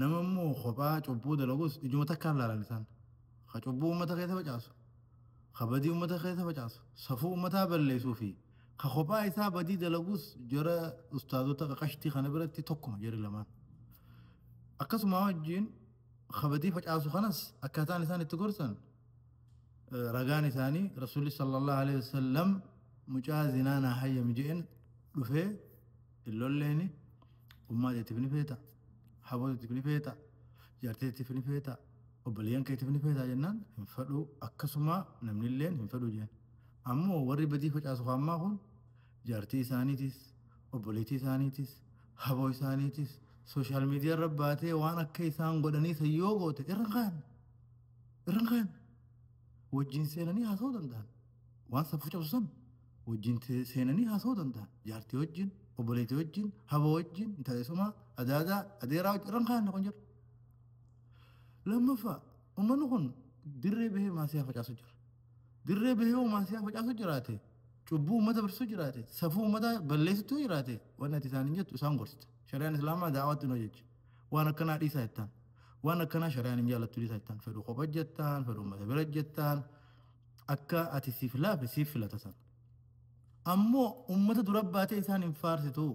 Nama immoo kophaa cubbuu dalagus ijuma takkaan laalan isaan. Ka cubbuu ummata keessa facaasu, ka badii ummata keessa facaasu, safuu ummataa balleessuu fi ka kophaa isaa badii dalagus jara ustaazota qaqashtii kana biratti tokkuma jari lamaan. Akkasumaa wajjiin ka badii facaasu kanas akkaataan isaan itti gorsan ragaan isaanii Rasuulli sallallahu alaihi wasallam mucaa zinaa naa hayyami je'en dhufee hin lolleeni ummaa teetiif ni feeta haboo teetiif ni feeta jaartii teetiif ni feeta obboleeyyan keetiif ni feeta jennaan hin fedhuu akkasumaa namni illeen hin fedhuu jeen ammoo warri badii facaasu haammaa kun jaartii isaaniitis obboleettii isaaniitis haboo isaaniitis sooshaal miidiyaa irra baatee waan akka isaan godhanii san yoo goote irra kaan irra kaan wajjin seenanii haasa'uu danda'an waan safuu cabsu san wajjin seenanii haasa'uu danda'a. Jaartii wajjin, obboleetii wajjin, haba wajjin, intala eessumaa, adaadaa, adeeraa wajjin irra hin kaa'anne kun jira. Lammaffaa uummanni kun dirree bahee maasiyaa facaasu jira. Dirree bahee yoo maasiyaa facaasu jiraate cubbuu uummata barsiisu jiraate safuu uummataa balleessitu yoo jiraate wanni ati isaaniin jettu isaan gorsita. Shari'aan Islaamaa daawwaatti hin hojjechi. Waan akkanaa dhiisaa jettaan. Waan akkanaa shari'aan hin jaallattu dhiisaa jettaan. Fedhu kopha jettaan, fedhu uummata bira jettaan. Akka ati si filaafe siif filata san. Ammoo ummata dura baatee isaan hin faarsitu.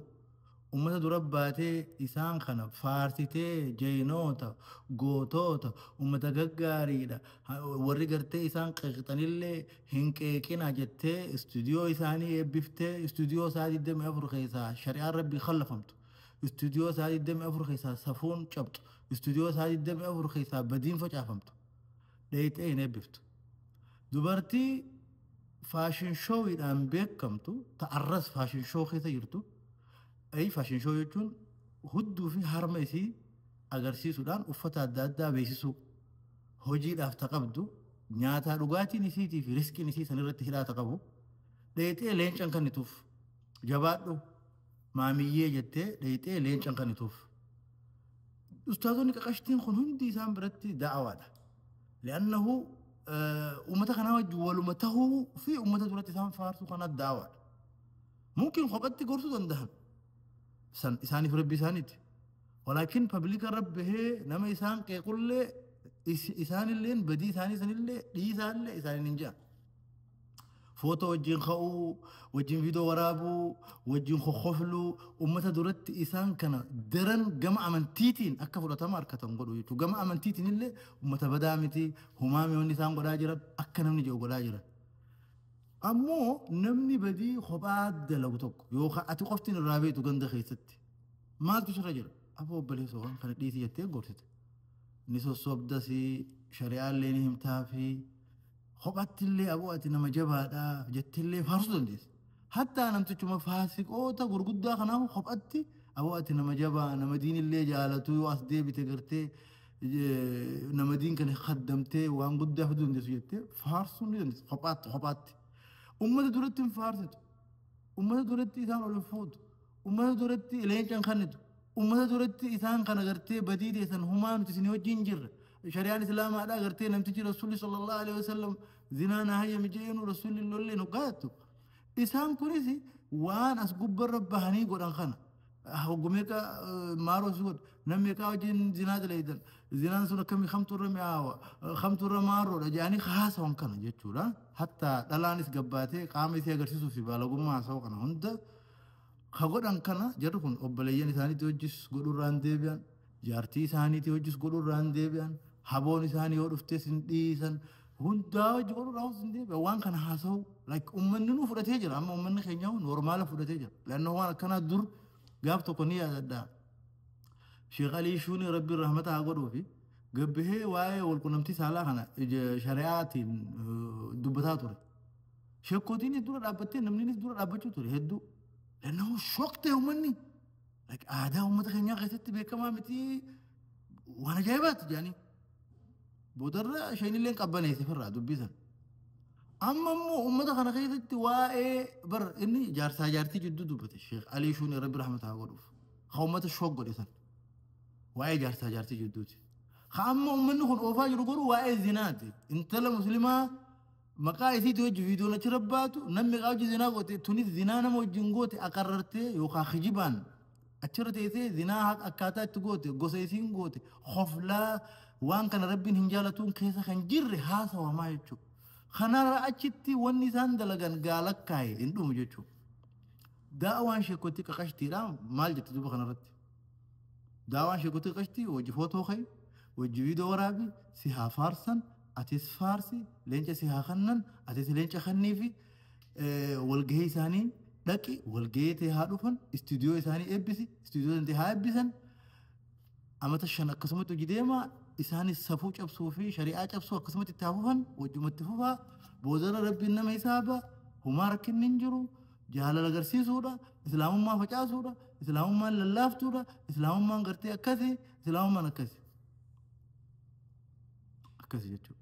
Ummata dura baatee isaan kana faarsitee jeynoota, gootoota, ummata gaggaariidha, ha- warri gartee isaan qeeqxanillee hin qeeqina jettee istuudiyoo isaanii eebbiftee istuudiyoo isaa 24 keessaa shari'aan rabbii khallafamtu. Istuudiyoo isaa 24 keessaa safuun cabxu. Istuudiyoo isaa 24 keessaa badiin facaafamtu. Dheeyxee hin eebbiftu. Dubartii fashion show dhaan beekamtu ta arras fashion show keessa jirtu, ay fashion show jechuun hudduu fi harma isii agarsiisuudhaan uffata adda addaa beeksisuu, hojiidhaaf ta qabdu, nyaataa dhugaatiin isiitii fi risqiin isii san irratti hidhaata qabu, dheeyxee leenca hin kannituuf. Jabaadhu! Maamiyyee jettee dheeyxee leencan kanituuf. Ustaazonni qaqashtiin kun hundi isaan biratti da'awaadha. Li'annahu uummata kanaa wajjin waluma tahuu fi uummata duratti isaan faarsuu kanaa da'awaadha. Mumkin kophatti gorsuu dandahan. San isaaniif rabbi isaaniiti. Walaakin pabliika irra bahee nama isaan qeequllee isaanilleen badii isaanii sanillee dhiisaallee isaaniin hin jedhan. Footoo wajjin ka'uu, wajjin viidiyoo waraabuu, wajjin kokkofluu uummata duratti isaan kana daran gama amantiitiin akka fudhatama argatan godhu jechuudha. Gama amantiitiin illee uummata badaa miti, homaa miti wanni isaan godhaa jiran akka namni jedhu godhaa jiran. Ammoo namni badii kophaa dalagu tokko yookaan ati qoftiin irraa beektu ganda keessatti maaltu sirra jira? Aboo obboleessa waan kana dhiisii jettee gorsite. Ni sossobdasi, shari'aa illee ni himtaafii. Kophatti illee aboo ati nama jabaadha jettee illee faarsuu dandeessa. Hattaa namtichuma faasiqoota gurguddaa kanaaf kophatti aboo ati nama jabaa nama diin illee jaalatuu yoo as deebite gartee nama diin kana kaddamtee waan guddaa fiduu dandeessu jettee faarsuu ni dandeessa kophaatti kophaatti. Uummata duratti hin faarsitu. Uummata duratti isaan ol hin fuutu. Ummata duratti leenca hin kannitu. Ummata duratti isaan kana gartee badii teessan humaa nuti isin wajjin jirra. Shari'aan Islaamaadhaa gartee namtichi Rasuulli sallallahu alaihi wasallam zinaa na hayyami jedheenu Rasuulli hin lolleen hoggaattu. Isaan kunis waan as gubbarra bahanii godhan kana. Hoggu meeqa maaroo si godha. Nam meeqaa wajjin zinaa daleeydan. Zinaan sun akkamii kamtu irra mi'aawa. Kamtu irra maaroodha jedhanii haasawan kana jechuudha. Hatta dhalaanis gabbaatee qaama isii agarsiisuuf fi baalagummaa haasawa kana hunda Ka godhan kana jarri kun obboleeyyan isaaniitii hojjis godhuu irraa hin deebi'an, jaartii isaaniitii hojjis godhuu irraa hin deebi'an, haboon isaanii yoo dhuftes hin dhiisan, hundaa hojji godhuu irraa hin deebi'an. Waan kana haasa'u like uummanni nuu fudhatee jira amma uummanni keenya normaala fudhatee jira. Laannoo waan akkanaa dur gaaf tokko ni yaadadhaa. Sheekh Alii Shuunii Rabbiin rahmata haa godhuu fi gabbihee waa'ee walqunnamtii saalaa kana ija shari'aatiin eh, dubbataa ture. Sheekkotiinis dura dhaabbattee namninis dura dhaabbachuu ture hedduu. Lannoo shoktee uummanni like aadaa uummata keenyaa keessatti beekamaa miti waan ajaa'ibaati jedhanii. Boodarra isheenillee qabbaneesse firraa dubbisan. Amma immoo uummata kana keessatti waa'ee bar inni jaarsaa jaartii jidduu dubbate Sheekh Alii Shuun Rabbi rahmata haa godhuuf. Ha uummata shook godhe san. Waa'ee jaarsaa jaartii jidduuti. Ha amma uummanni kun oofaa jiru garuu waa'ee zinaati. Intala muslimaa Maqaa isiitii wajji viidiyoon achirra baatu namni meeqaa wajji zinaa goote tunis zinaa nama wajjin goote aqarrartee yookaan kijibaan achirra teessee zinaa haqa akkaataa itti goote gosa isiin goote hoflaa waan kana rabbiin hin jaalatuun keessa kan jirre haasawamaa jechuudha. Kanarra achitti wanni isaan dalagan gaalakkaa'e hin dhumu jechuudha. Daawaan sheekotti qaqashtiidha maal jette duuba kanarratti? Daawaan sheekotii qashtii wajji footoo ka'i, wajji viidoo waraabi, si haa faarsan, atis faarsi, leenca si haa kannan, atis leenca kanniifi, walgahii isaanii dhaqi, walgahii tee haa dhufan, istuudiyoo isaanii eebbisi, istuudiyoo tantee haa eebbisan, amata shan akkasumatti hojii deemaa, isaanis safuu cabsuu fi shari'aa cabsuu akkasumatti itti haa fufan, wajjumatti fufaa, boodarra rabbiin nama hisaaba, humaa rakkinni hin jiru, Jaalala garsiisuudha, Islaamummaa facaasuudha, Islaamummaan lallaaftuudha, Islaamummaan gartee akkasi, Islaamummaan akkasi. Akkasi jechuudha.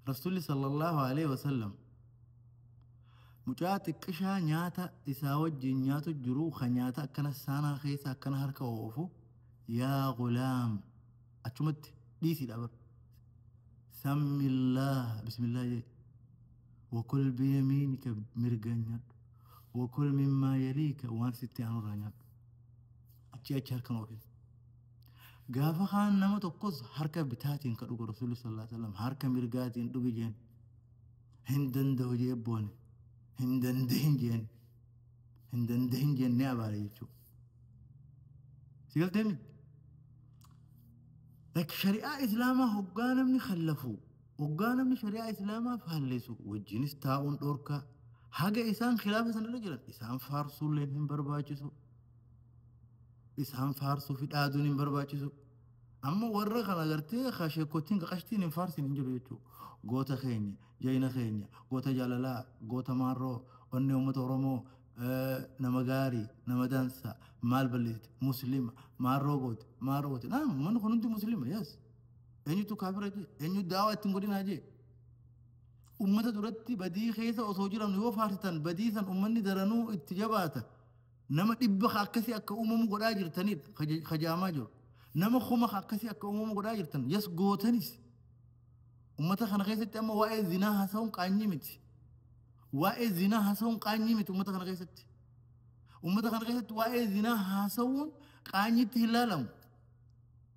Rasuulli sallallahu alaihi wasallam mucaa xiqqishaa nyaata isaa wajjin nyaatu jiru kan nyaata akkana saanaa keessa akkana harka oofu yaa gulaam achumatti dhiisiidha bar. Sammillaa bismillaa jee. Wakul biyamiinika mirgaan nyaadhu. Wakul mimmaa yaliika waan sitti aanurraa nyaadhu. Achi achi harka oofis. Gaafa kaan nama tokkos harka bitaatiin ka dhugu Rasuulli sallallahu alaihi wasallam harka mirgaatiin dhugi jeen. Hin danda'u jee boone. Hin dandahin jeen. Hin dandahin jeen ni abaare jechuudha. Si galteemi? Like shari'aa Islaamaa hoggaa namni kallafuu. Oggaa namni shari'aa islaamaa faallesu wajjinis taa'uun dhorkaa. Haga isaan khilaafa sanirra jiran isaan faarsuulleen hin barbaachisu. Isaan faarsuu fi dhaaduun hin barbaachisu. Amma warra kan agartee ka sheekottiin ka qashtiin hin faarsin hin jiru jechuudha. Goota keenya, jayina keenya, goota jaalalaa, goota maarroo, onnee uummata Oromoo, eh, nama gaarii, nama dansaa, maal balleessite, muslima, maarroo goote, maarroo goote. Naam, uummanni kun hundi muslima, yes. Eenyutu kaafira jee? Eenyu daawaa ittiin godhinaa jee? Ummata duratti badii keessa osoo jiran yoo faarsitan badii san ummanni daranuu itti jabaata. Nama dhibba ka akkasii akka uumamu godhaa jirtanidha ka je- ka jaamaa jiru. Nama kuma ka akkasii akka uumamu godhaa jirtan yes gootanis. Ummata kana keessatti amma waa'ee zinaa haasa'uun qaanyii miti. Waa'ee zinaa haasa'uun qaanyii miti ummata kana keessatti. Ummata kana keessatti waa'ee zinaa haasa'uun qaanyiitti hin laalamu.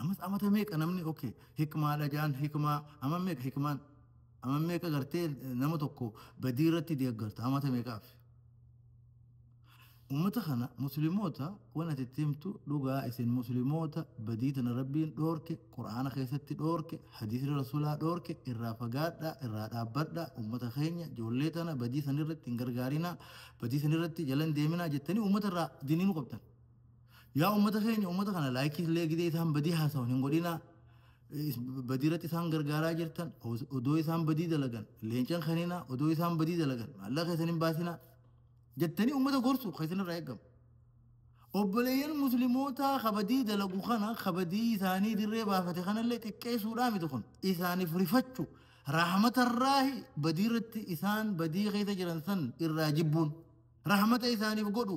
Amas amata meeqa namni ok hikmaadha jaan hikmaa ama meeqa hikmaan ama meeqa gartee nama tokko badii irratti deeggarta amata meeqaaf ummata kana muslimoota wan ati itti himtu dhugaa isin muslimoota badii tana rabbiin dhoorke qur'aana keessatti dhoorke hadiisri rasulaa dhoorke irraa fagaadha irraa dhaabbadha ummata keenya ijoollee tana badii san irratti hin gargaarinaa badii san irratti jalan deeminaa jettanii ummata irraa diniinu qabdan Yaa ummata keenya ummata kana laayikii illee gidee isaan badii haasawan hin godhinaa. Is- Badii irratti isaan gargaaraa jirtan os- odoo isaan badii dalagan leencan kaninaa odoo isaan badii dalagan maallaqa keessan hin baasinaa jettanii ummata gorsu kan isin irraa eegamu. Obboleeyyan muslimootaa kabadii dalagu kana kabadii isaanii dirree baafate kanallee xiqqeessuudhaa miti kun isaaniif rifachu rahmatarraahi badii irratti isaan badii keessa jiran san irraa jibbuun rahmata isaaniif godhu.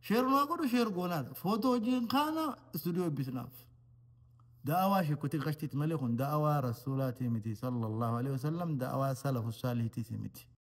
Share nuu godhu share goonaadha. Footoo hojiin kaana istuudiyoo eebbisnaaf. Da'awaa sheekkotii qashtiiti malee kun da'awaa rasuulaatii miti sallallahu alaihi wasallam da'awaa salafu saalihiitiis miti.